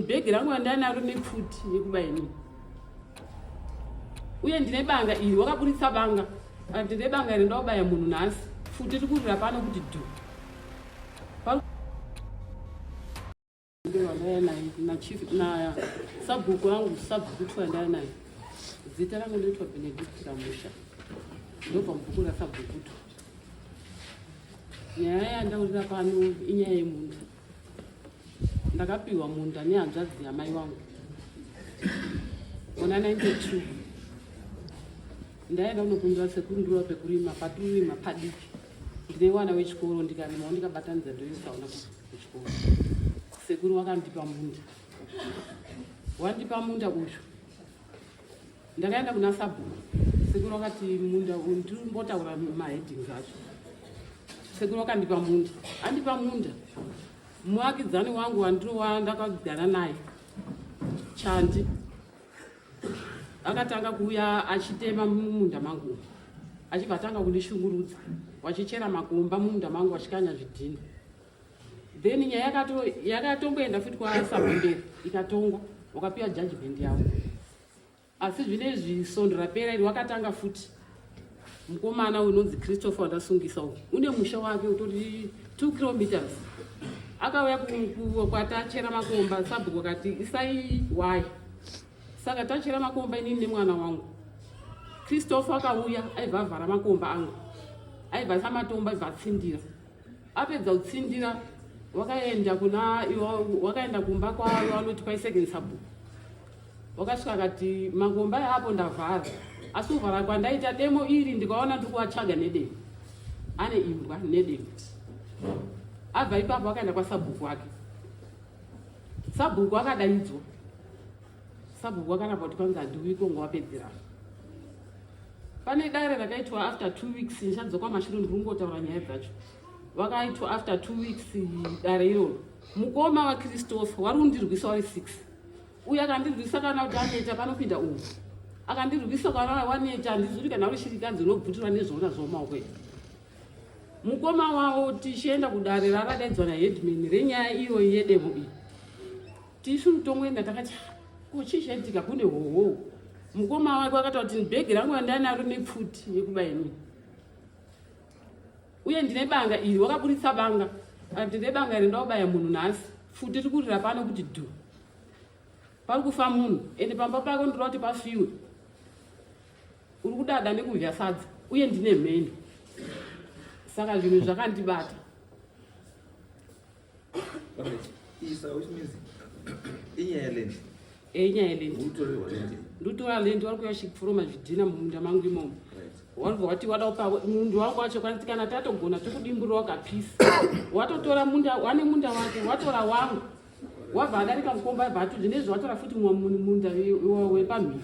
bhegi rangu randanaro nepfuti yekuba ini uye ndine banga iri wakaburitsa banga kana kuti ndine banga iri ndakubaya munhu nhasi futi iri kurira pano kuti dhu nasabhuku angu sabhuku twa ndaya naye zita rangu ndoitwa benedict ramusha ndobva mubhuku rasabhukutu nyaya yandaurira pano inyaya yemunhu ndakapihwa munda nehanzvadzi yamai wangu muna 92 ndaenda kunokumbira sekuru ndiriwa pekurima patirima padiki ndine wana wechikoro ndikarima wandikabatanidza ndoisaona kuchikoro sekuru wakandipa munda wandipa munda uyu Ndakaenda kuna sabhuku sekuru vakati munda ndimbotaura maheadings acho sekuru vakandipa munda andipa munda muvakidzani wangu wandiriwa ndakagara naye chandi akatanga kuuya achitema mumunda mangu achibva atanga kundishungurudza wachichera makomba mumunda mangu achikanya zvidhina then nyaya yakatongoenda futi kwasabonderi ikatongwa wakapiwa judgment yavo asi zvine izvi sondo rapera iri wakatanga futi mukomana unonzi christopher wandasungisa u une musha wake utori two kilometers akauya kwati achera makomba sabhuku akati isai why saka tachera makomba inini nemwana wangu christopher akauya aibva avhara makomba angu aibva asamatomba aibva atsindira apedza kutsindira wakaenda kuna wakaenda kumba kwavo vanoti kwaisecond sabhuku wakasvika akati mangomba yaapo ndavhara asi kuvhara kwandaita demo iri ndikaona ndiri kuvatsvaga nedemo ane imbwa nedemo abva ipapo akaenda kwasabhuku wake sabhuku akadaidzwa Sabhuku wakaramba kuti kwanzi handiuiko ngowapedzera. Pane dare rakaitwa after two weeks ndichadzoka mashure ndiri kungotaura nyaya dzacho. Vakaitwa after two weeks dare iroro. Mukoma vaChristopher wari kundirwisa wari six. Uye akandirwisa kana kuti aneta panopinda umu. Akandirwisa kana waneta handizuri kana uri shirikadzi unobvutirwa nezvoona zvomaoko izvi mukoma wavo tichienda kudare raradaidzwa naheadman renyaya iyoyi yedemo iyi Tisu tongoenda takati ko chii chaitika kune hoho. Mukoma wake wakataura kuti bhegi rangu randanaro nepfuti yekuba ini. Uye ndine banga iri wakaburitsa banga. Akati ndine banga iri ndaubaya munhu nhasi. Pfuti iri kurira pano kuti dhu. Pari kufa munhu ende pamba pako ndinoda kuti pafiwe. Uri kudada nekudya sadza uye ndine mheni. Saka zvinhu zvakandibata. ndutora land wari kuya shikufuroma zvidhina mumunda mangu imomo wabva wati wada kupa mundu wangu wacho kwanzi kana tatogona tokudimburira wakapisa watotora munda wane munda wake watora wangu wabva adarika mukomba abva atoti nezve watora futi mumwe munhu munda wepamhiri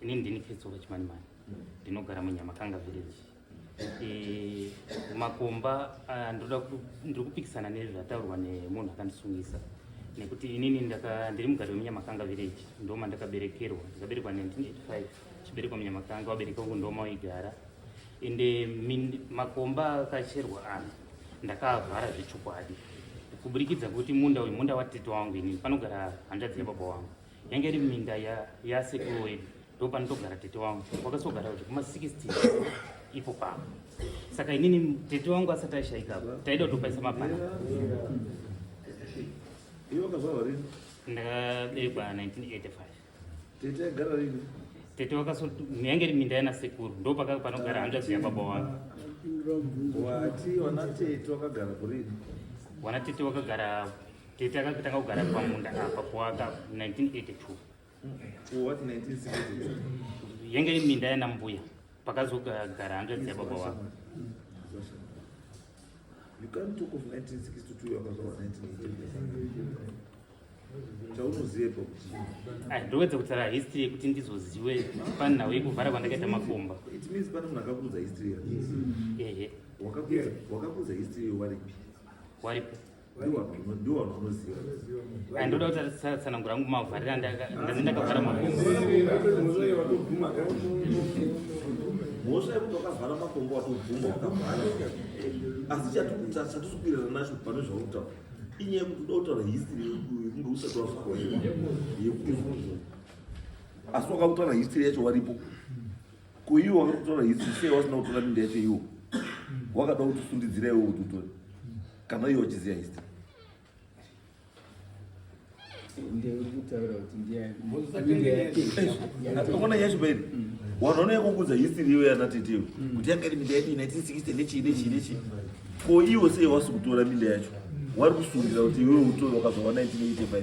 Ini ndini Fitsolo Chimanimani ndinogara muNyamakanga village. E, makomba ah, ndoda ku- ndiri kupikisana nezvataurwa nemunhu akandisungisa nekuti inini ndaka- ndiri mugari wemunyamakanga village ndoma ndakaberekerwa ndakaberekwa 1985 chiberekwa munyamakanga wabereka wangu ndoma waigara ende min- makomba akacherwa ana ndakaavhara zvechokwadi kuburikidza kuti munda uyu munda watete wangu inini panogara hanzvadzi yababa wangu yanga iri minda yasekuru wedu ndo panotogara tete wangu wakasogara kuti kuma 60 ipo pavo saka inini tete wangu asati aishaika taida kutopaisa mapana ndakabekwa 1985 tete agara rini tete wakaso yange iri minda yana sekuru ndo paka panogara hanzva zviya baba wangu wati wana tete wakagara kurini wana tete wakagara Tete akatanga kugara pamunda apa kuwaka 1982. Kuwaka 1962. Yenge iri minda yana mbuya pakazogara hanzvadzi yababa wako. You can't talk of 1962 yakazowa 1982. Chaunoziva kuti ai ndovedza kutaura history yekuti ndizozive pani nhau yekuvhara kwandakaita makomba. It means pane munhu akakuudza history yake. Ehe. Wakakuudza wakakuudza history waripi? Waripi? ndoda kuti atsanangura angu mavharira ndani ndakavhara mhosva yekuti wakavhara makombo watobvuma wakavhara asi chatikuwirirana nacho pane zvautaura inyaya yekuti uda kutaura history yekunge usati wazvikoiwa yekuti asi wakakutaura history yacho waripo ko iwo wakakutaura history sei wasina kutora minda yacho iwo wakada kuti usundidzira iwo kuti utore Kana iwe uchiziva history. Unaona Yesu baby. Wanaona yako kuza history iwe yana tete. Mm. Kuti yanga iri minda yedu 1960 nechi nechi nechi. Ko iwe sei wasukutora minda yacho? Wari kusundira kuti iwe utore wakazowa 1985.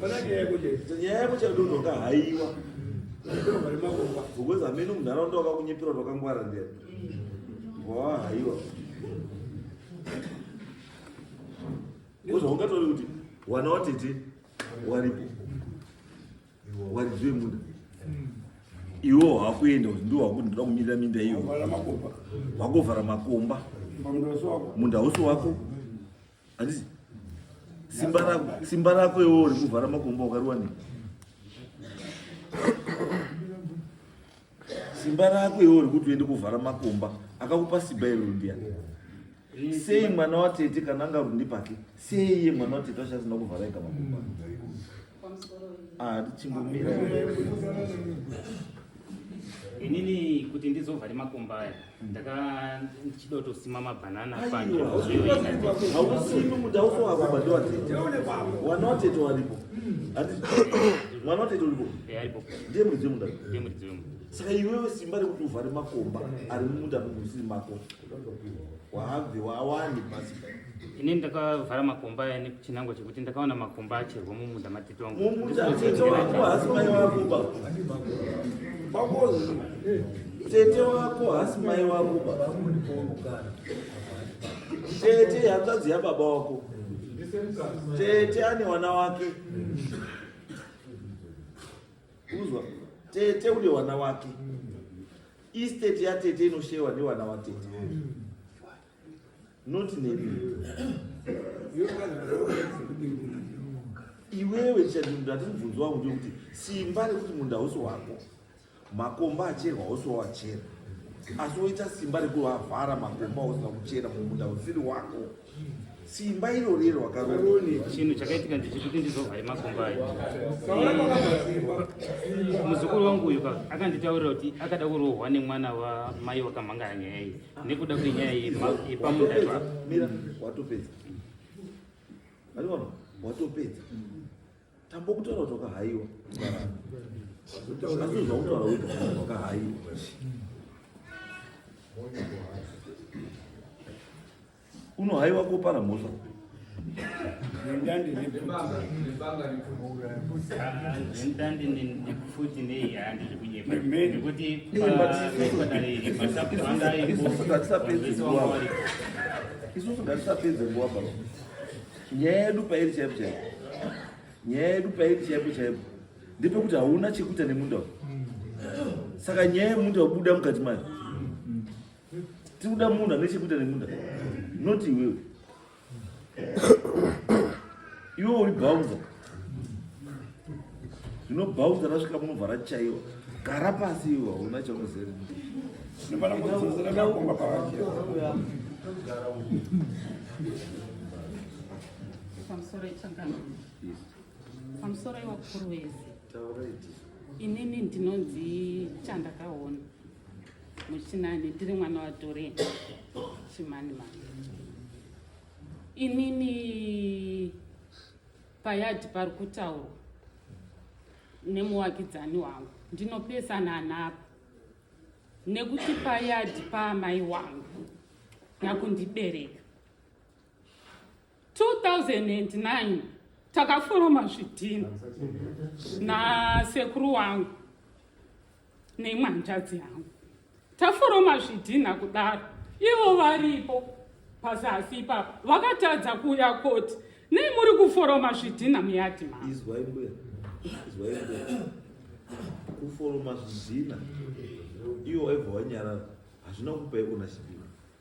Pana nyaya yako chete. Nyaya yako chete ndoka haiwa. Ndakapera mari makomba. Because amene munharaunda wakakunyepera wakangwara ndera. Wa haiwa. Ndozvo ungatori kuti wana watete waripo. Warizwe munda. Iwo hakuenda kuti ndiwo hakuti ndoda kumirira minda iyo. Wakovhara makomba. Munda usi wako. Handisi? Simba rako, simba rako iwe uri kuvhara makomba wakariwanei? Simba rako iwe uri kuti uende kuvhara makomba akakupa simba iri ndiani? Sei mwana watete kana anga rundi pake? Sei iye mwana watete achasina kuvhara ega makomba? Ah, inini kuti ndizova nemakomba aya ndakachida kutosima mabhanana panyaukusimi kuti auso wako badiwatete wana watete waripo mwana watete uripo ndiye muridzi wemunda ndiye muridzi wemunda saka iwewe simba rekuti uvhare makomba ari mumunda mekusiri mako ini ndakavhara makomba aya nechinangwa chekuti ndakaona makomba acherwa mumunda matitongo tete wako hasi mai wako tete hanzvadzi yababa wako tete ane wana wake uzwa tete une wana wake Estate yatete inoshewa ndiwana watete. Not neni. Iwewe chadindu ati mubvunzo wangu ndekuti simba rekuti munda hausi wako. Makomba acherwa hausi wawachera. Asi woita simba rekuti wavhara makomba usina kuchera mumunda usiri wako. Simba iro riri wakaroni. Chinhu chakaitika ndichikuti ndizovhare makumbo ayo. Muzukuru wangu uyu akanditaurira kuti akada kurohwa nemwana wamai wakamhangara nyaya iyi nekuda kwenyaya yepamunda zvako. Mira, watopedza. Ariona, watopedza. Tambo kutaura kuti wakahaiwa. Asi zvakutaura kuti wakahaiwa. Unohaiwa kopara mhosva. Isusu ngatisapedze nguva baba. nyaya yedu pairi chaipo chaipo nyaya yedu pairi chaipo chaipo ndepekuti hauna chekuita nemunda uyu saka nyaya yemunda wabuda mukati mayo tikuda munhu ane chekuita nemunda not iwewe iwe uri bounza zvinobhaudza rasvika munobva rachaiwa gara pasi iwe hauna chaunozere pamusoro itsangano pamusoro iwakuru wese inini ndinonzi chandakaona muchinani ndiri mwana watore chimanimani inini Payard pari kutaurwa nemuvakidzani wangu ndinopesana napa nekuti payadi paamai wangu nakundibereka 2009 takaforoma zvidhina nasekuru wangu neimwe hanzvadzi yangu taforoma zvidhinha kudaro ivo varipo pazasi ipapo vakatadza kuuya koti nei muri kuforoma zvidhinha muyadhi maizwai mbuya izwai mbuya kuforoma zvidhinha ivo vaibva vanyarara hazvina kupai onashipiro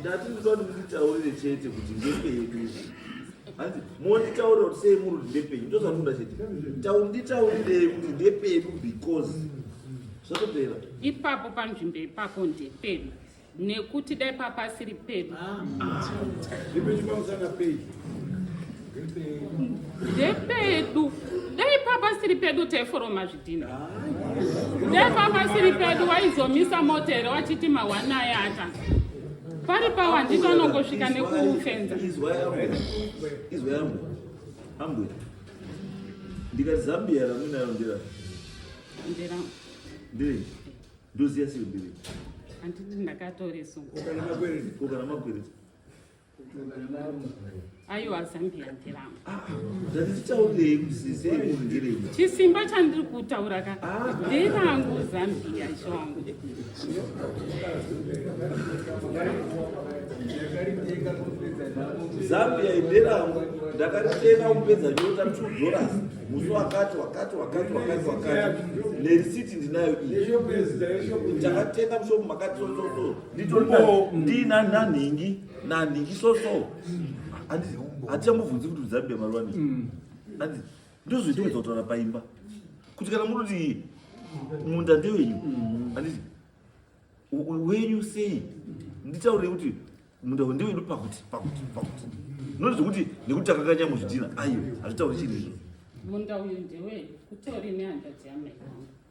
ndati ndinoda kuti munditaurire chete kuti ndepedu hanzi monditaurira kuti sei muri kuti ndepedu ndozvatinoda chete nditaurirei kuti ndepedu because zvotopera ipapo panzvimbo ipapo ndepedu nekuti dai papasiri pedu ah, ah. ndepedu dai papa siri pedu taiforoma zvidhina dai papa siri pedu waizomisa mota here wachiti mawanai ata pari pawa ndito anongosvika nekufenza ndikati zambia ramuinayo ndira ndira ndiri ndoziya siri ndiri handiti ndakatorisukokana makwereti aiwa zambia ndiramo zvatititaurei kusisei kuhungirei chisimba chandiri kutaura ka ndirangu zambia chongo zambia inderangu ndakaritenga kupedza nyota two dollars musi wakati wakati wakati wakati wakati nerisiti ndinayo iyi takatenga mushopu makati sososo nditoriwo ndina nanhingi nanhingi soso hatichamubvunzi kuti uzabe marwani mm. anzi ndozoita kuzotora paimba kuti kana munoti munda ndewenyu mm. anditi wenyu sei nditaurei kuti munda ndewedu pakuti pakuti pakuti noti zvekuti nekuti takakanya muzvidhina aiyo hazvitauri chiri izvo munda uyu ndewenyu kutori nehandadziamai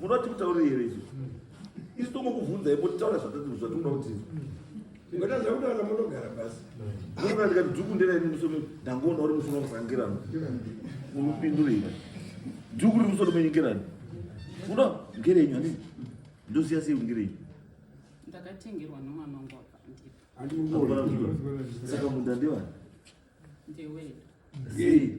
munoti mutauriri here izvi isu tongokubvunzai moti taura zvatinoda kuti ungaita zvakutaura munogara pasi munogara ndikati dhuku nderaini musoro ndangoona uri musoro musangirano unopindurira dhuku riri musoro menyikirano uno ngerenyu hanini ndoziya sei ungerenyu ndakatengerwa nomwana wangu wakandipa saka munda ndewani ndewedu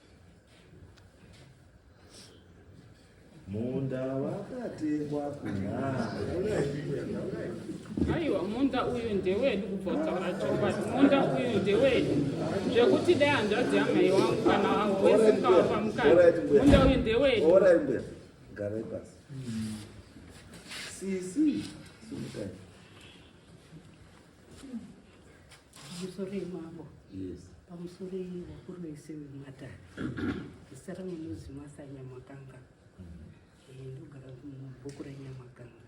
munda wakatengwa kunaiwa munda uyu ndewedu kubva kutaura chokwadi munda uyu ndewedu zvekuti dai hanzvadzi yamai wangu kana wangu wese mukavapa mukana munda uyu ndewedu garai pasi sisi sumukai Pamusoro yemambo. Yes. Pamusoro yevakuru vese vematare. Zita rangu ndinonzi Martha Nyamakanga. Eh, ndogara mubhuku reNyamakanga.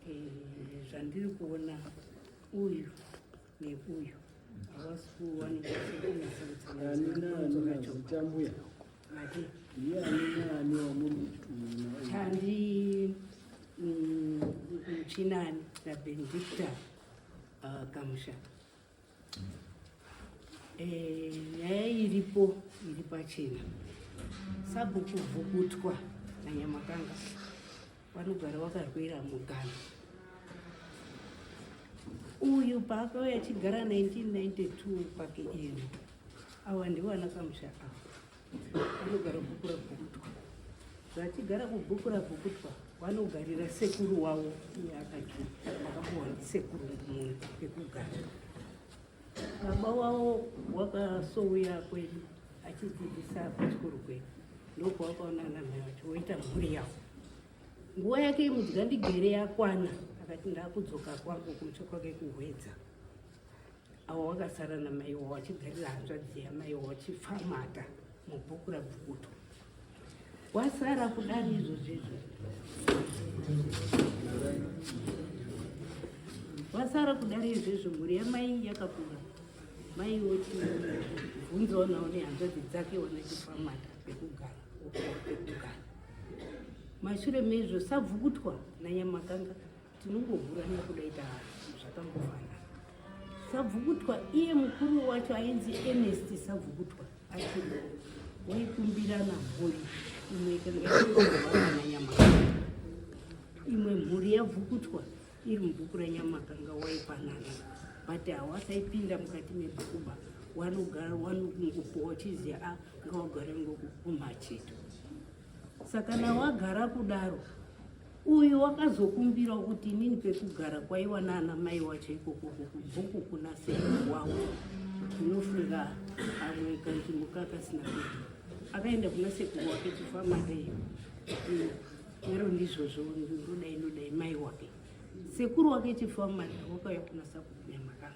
Eh, zvandiri kuona uyu neuyu havasi kuwanika sekunasautsanazitamuya chandi muchinani nabenedictor Ah, kamusha eh, nyaya iripo iri pachena sabhuku vhukutwa nanyamakanga vanogara vakarwira mugano uyu paakauya achigara 1992 kwake ino awa ndivo anakamusha ava Vanogara bhuku rabhukutwa. Vachigara kubhuku rabhukutwa vanogarira sekuru wavo iye akati akapuwa ndisekuru mumwe pekugara. Baba wavo wakasouya kwedu achidzidzisa kuchikoro kwedu ndokwavakaona namai vacho voita mhuri yavo. Nguva yake yemudyandigere yakwana akati ndakudzoka kwangu kumusha kwake kuhwedza. awa wakasara namaiwa wachigarira hanzvadzi yamaiwa wachipfamata mubhuku rabvukuto wasara kudari izvozvo izvozvo wasara kudari izvozvo mhuri yamai yakakura mai wochibvunzawo nawo nehanzvadzi dzake wanachipfamata pekugara pekugara mashure mezvo sabvukutwa nanyamakanga tinongovhura nekuda ita zvakangofanana sabvukutwa iye mukuru wacho ainzi enest sabvukutwa achiri waikumbirana mhuri imwe ikangaaanyama imwe mhuri yabvukutwa iri mubhuku ranyama kanga waipanana but hawasaipinda mukati mebhukuba wanogara wanongopowa chiziva a ah, ngawagare ngokukumacheto sakana wagara kudaro uyu wakazokumbira kuti inini pekugara kwaiwa naana mai wacho ikoko kubhuku kuna sekuru wavo ndinofunga amwe kanzvimbo kakasina kuti akaenda kuna sekuru wake chifamadei ero ndizvozvo ndodai ndodai mai wake sekuru wake chifamadei wakauya kunasa kukunyamaka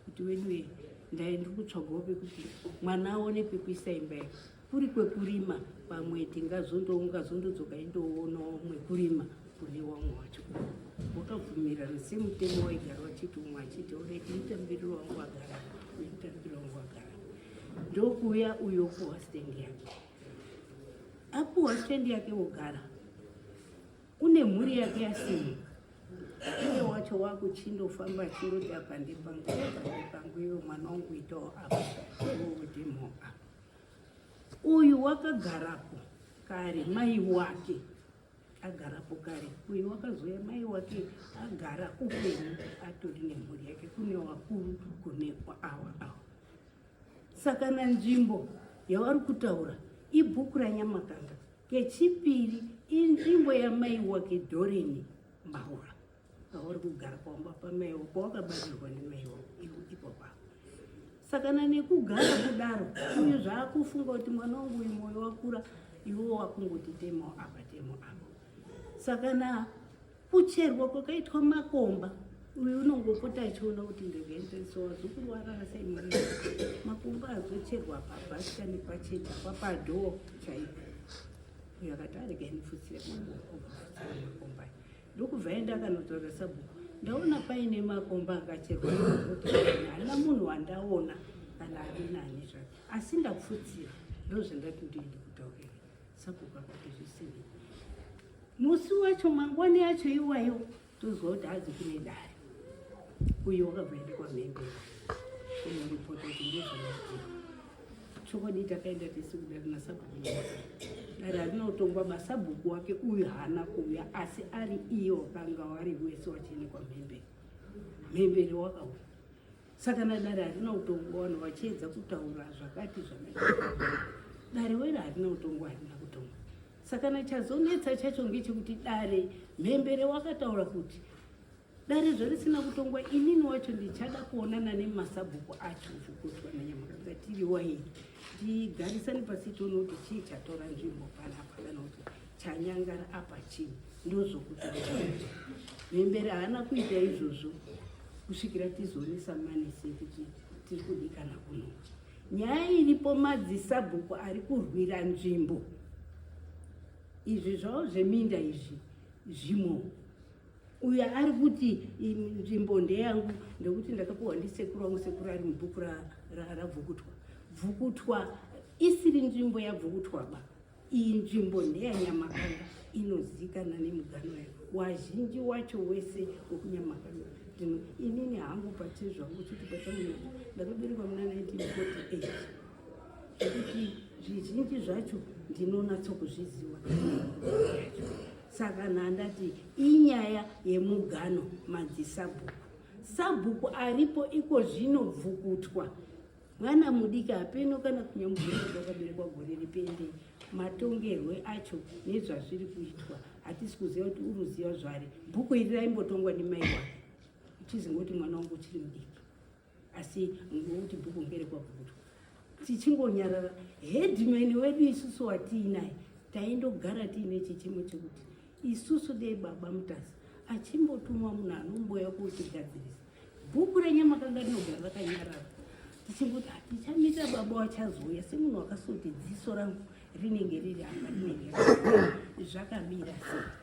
kuti weduwe ndai ndiri kutsvagawo pekuti mwana aone pekuisa imba iyi kuri kwekurima pamwe tingazondozondodzoka indoonawo mwekurima kune wamwe wacho wakabvumirana semutemo waigara wachiti umwe achiti oreti mutambiriro wangu wagara uyu mutambiriro wangu wagara ndokuuya uyo opuwa stendi yake apuwa stendi yake wogara Kune mhuri yake yasimo. Iye wacho wakuchindofamba achindoti apa ndepangu pangu iwe mwana wangu itawo apa ndimo apa. Uyu wakagarapo kare mai wake agarapo kare uyu wakazoya mai wake agara upenyu atori nemhuri yake kune wakuru kune awa awa saka na nzvimbo yavari kutaura ibhuku ranyamakanga Kechipiri inzvimbo yamai wake Doreen Mbaura auri kugara pamba pamai wako wakabatirwa nemai wako ipopa sakana nekugara kudaro uyu zvaakufunga kuti mwana wangu uyu moyo wakura iwo wakungoti temo apa temo apa sakana Kucherwa kwakaitwa makomba uyu unongopota achiona kuti ndezvendese wazukuru warara sei mwana makumba azocherwa pabhaska nepacheta papadhoo chaipo uyo akati arega inifutsire makomba ndokubva enda akanotaura sabhuku ndaona paine makomba akacherwa haina munhu wandaona kana ari nani zvake asi ndafutsira ndozvandati ndiende kutaurira Sabhuku akati zvisiri. Musi wacho mangwani yacho iwayo tozwa kuti hadzi kune dare. Uyo wakabvaenda kwamhembe kunoripota kuti ndozvamaziva. Chokwadi takaenda tese kudare nasabhuku dare rinotongwa basabhuku wake uyu haana kuuya asi ari iyo wakanga wari wese wachene kwamhembere mhembere wakauya Saka nadare harina utongo vanhu vachiedza kutaura zvakati zvakati. Dare wera harina utongo harina kutonga. Saka nachazonetsa chacho ngechekuti dare mhembere wakataura kuti dare zvarisina kutongwa inini wacho ndichada kuonana nemasabhuku acho zvokutwa nanyamaka ngatiri waini tigarisane pasi tione kuti chii chatora nzvimbo panapa kana kuti chanyangara apa chii ndozokuti mhembere haana kuita izvozvo kusvikira tizonisa manese kuti tiri kudikana kuno nyaya iripo madzisabhuku ari kurwira nzvimbo izvi zvavo zveminda izvi zvimo uyo ari kuti nzvimbo ndeyangu ndekuti ndakapiwa ndisekuru wangu sekuru ari mubhuku rabvukutwa bvukutwa isiri nzvimbo yabvukutwa ba Iyi nzvimbo ndeyaNyamakanga inozivikanwa nemugano yayo wazhinji wacho wese wekunyamakanga zvino inini hangu pachii zvangu chiti pachamunoa ndakaberekwa muna 1948 zvekuti zvizhinji zvacho ndinonatsokuzviziva saka nhandati inyaya yemugano madzisabhuku sabhuku aripo iko zvino bvukutwa Mwana mudiki hapeno kana kunyamugurwa kwakaberekwa gore ripende matongerwe acho nezvazviri kuitwa hatisi kuziva kuti uruziva zvari bhuku iri raimbotongwa nemai wake uchizingoti mwana wangu uchiri mudiki asi ngokuti bhuku ngere kwakutwa tichingonyarara hedman wedu isusu watiinaye taindogara tiine chichemo chekuti isusu dei baba mutasa achimbotumwa munhu anomboya kuotigadzirisa Bhuku renyama kanga rinogara rakanyarara tichingoti hatichamita baba wachazouya semunhu wakasoti dziso rangu rinenge riri apa rinenge zvakamira sei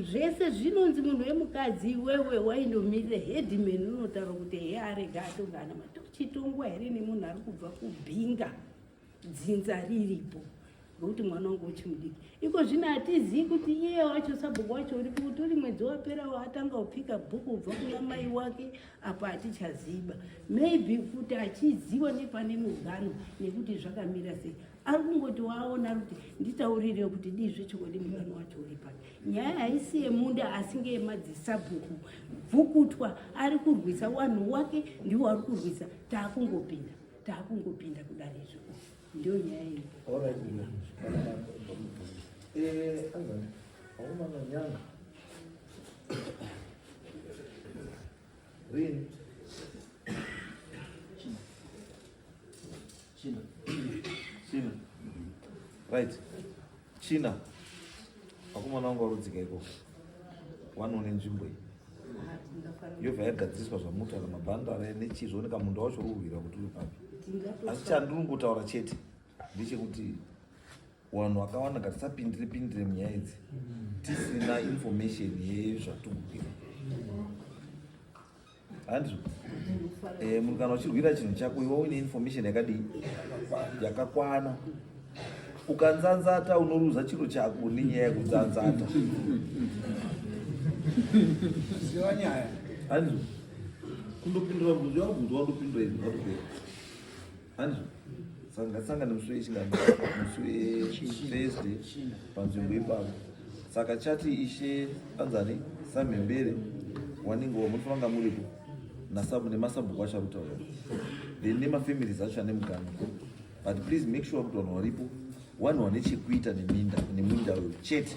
zvese zvinonzi munhu wemukadzi iwewe waindomirira headman unotaura kuti heye arega atongana matochitongwa here nemunhu ari kubva kubhinga dzinza riripo nokuti mwana wangu uchimudiki iko zvino hatizivi kuti iye wacho sabhuku wacho uri kuti uri mwedzi waperawo atanga kupika bhuku kubva kuna mai wake apa hatichaziba maybe kuti achiziva nepane mugano nekuti zvakamira sei ari kungoti waaona kuti nditaurire kuti dii zvechokwadi mugano wacho uri pano nyaya haisi yemunda asi ngeyemadzisabhuku bvukutwa ari kurwisa wanhu wake ndiwo ari kurwisa taakungopinda takungopinda kudare izvo ndiyo nyaya iyi aumamanyanga rini china china right China vakomana vangu varudzika ikoko wanoone nzvimbo iyi yobva yagadziriswa zvamutaura mabhando ave nechii zvooneka munda wacho ururwira kuti uri papi asi chandiri kutaura chete ndechekuti wanhu wakawanda ngatisapindire pindire munyaya idzi tisina information yezvatikukwira Andrew, eh, munhu kana uchirwira chinhu chako iwe uine information yakadii yakakwana ukanzanzata unoruza chiro chako nenyaya yekunzanzata ziva nyaya andrew kundopindura bvunzo yakubvunzwa ndopindura izvi vatopera Hanzi sangasangana musi wechingani musi wethursday panzvimbo ipapo saka chati ishe anzani samhembere wanenge wamunovanga muripo nasabu nemasabhuku acho akutaura then nemafamilies acho ane muganga but please make sure kuti vanhu varipo vanhu vane chekuita neminda neminda uyo chete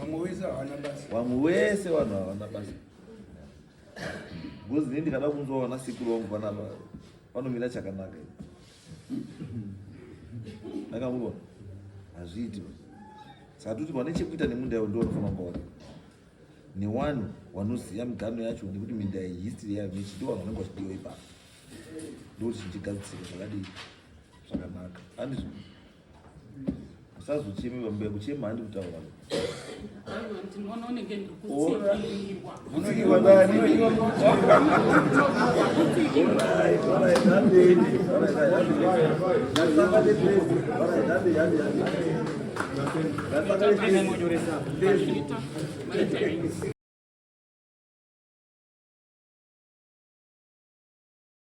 vamwe wese vanhu havana basa Because nini ndikada kunzwa vana sekuru vangu vana vanomira chakanaka. Ndakamurwa. Hazviiti. Saka toti vane chekuita nemunda yavo ndiwo unofanira kuona. Newanu wanoziva migano yacho nekuti minda iyi history yayo nechidiwa vanhu vanenge vachidiwa ipapo. Ndokuti chichigadzisika zvakadii zvakanaka. Andizvo. usazocheme bambuya kuchema handi kutaura Thank you.